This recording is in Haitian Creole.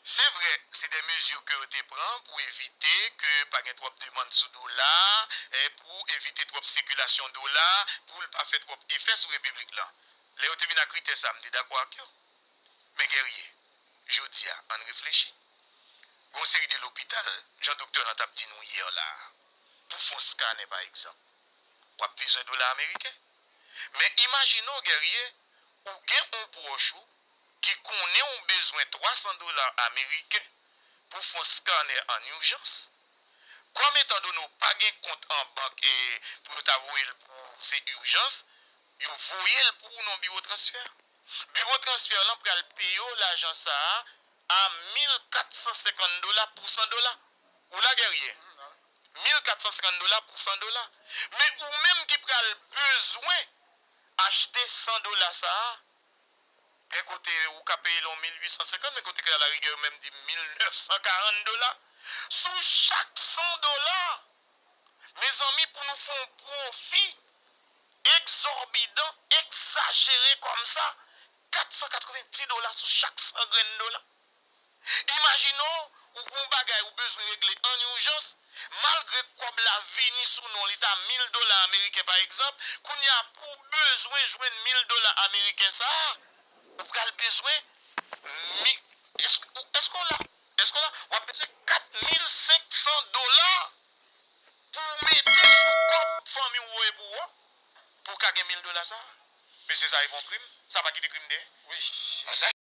Se vre, se de mezi ke yo te pran pou evite ke pa gen twòp demand sou dola, pou evite twòp sikilasyon dola, pou l pa fè twòp efè sou repiblik lan. Lè yo te vin ak kritè sa a, m te dakò ak yo. Men Guerrier, jodi a, ann reflechi. Gon seri de lopital, jan doktè lan t ap di nou yè la a, pou fon skanè pa egzanp, w ap bezwen dola ameriken. Men imajine w Guerrier, ou gen on pwòch ou, ki konnen ou bezwen 300 dola ameriken pou fon scanner an urjans, kòm etan done ou pa gen kont an bank e pou yo ta voye l pou ou se urjans, yo voye l pou ou nan biwo transfè. Biwo transfè lan pral peye w lajan sa a 1450 dola pou 100 dola. Ou la Guerrier? 1450 dola pou 100 dola. Men ou menm ki pral bezwen achte 100 dola sa a, Gen kote ou ka peye l yon 1850, men kote ke alarigè yo menm di 1940 dola sou chak 100 dola! Mezanmi pou nou fè yon pwofi egzòbidan, egzajere kòmsa, 490 dola sou chak 100 grenn dola! Imajine w ou gen yon bagay ou bezwen regle ann ijans, malgre kòb la vini sou non li ta 1000 dola ameriken pa egzanp, kounye a pou w bezwen jwenn 1000 dola ameriken sa a, ou pral bezwen mi, èske w la? èske w la? w ap bezwen 4500 dola pou w mete sou kòb fanmi w voye pou ou a pou w ka gen 1000 dola sa a. Mesye sa e pa yon krim? Sa pa kite krim dèyè?